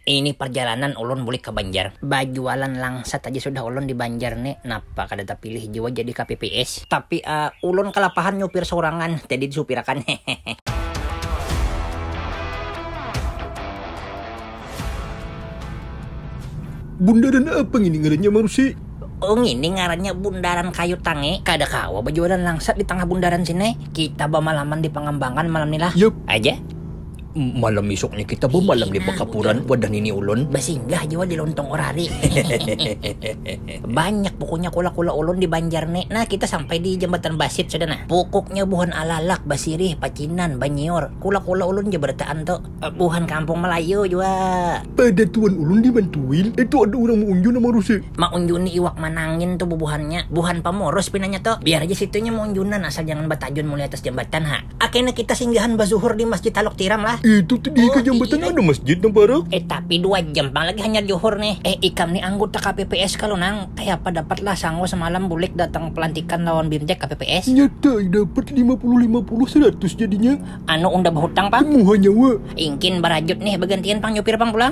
Ini parjalanan ulun bulik ka Banjar. Bajualan langsat aja sudah ulun di Banjar ni, napa kada tapilih jua jadi kpps. Tapi ulun kalapahan nyupir saurangan, jadi disupirakan hehehe. Bundaran apa ngini ngarannya Marsi? Oh ngini ngarannya Bundaran Kayu Tangi. Kada kawa bajualan langsat di tangah bundaran sini. Kita bamalaman di Pangambangan malam ni lah. Yup. Aja. Malam isuknya kita bamalam di bakapuran wadah nini ulun. Basinggah jua di lontong orari. Banyak pukuknya kula-kula ulun di Banjar ni. Nah, kita sampai di Jambatan Basit sudah nah. Pukuknya buhan alalak, basirih, pacinan, banyiur. Kula-kula ulun ja barataan tu. Buhan kampung Melayu jua. Pada tuan ulun di Mantuil, itu ada urang maunjun nang marusi. Maunjuni iwak manangin tu bubuhannya. Buhan pamurus pinanya tu. Biar ja situnya maunjunan asal jangan batajun mulai atas jambatan ha. Ah kena kita singgahan bazuhur di masjid Taluk Tiram lah. Eh tutu di ika jambatan ada masjid nang parak. Eh tapi dua jam pang lagi hanyar juhur ni. Eh ikam ni anggota kpps kalo nang? Kayapa dapat lah sango semalam bulik datang pelantikan lawan bimtek kpps? Nyata ai dapat lima puluh lima puluh seratus jadinya. Anu unda behutang pang? Temuha nyawa. Ingkin barajut nih bagantian pang nyupir pang pulang.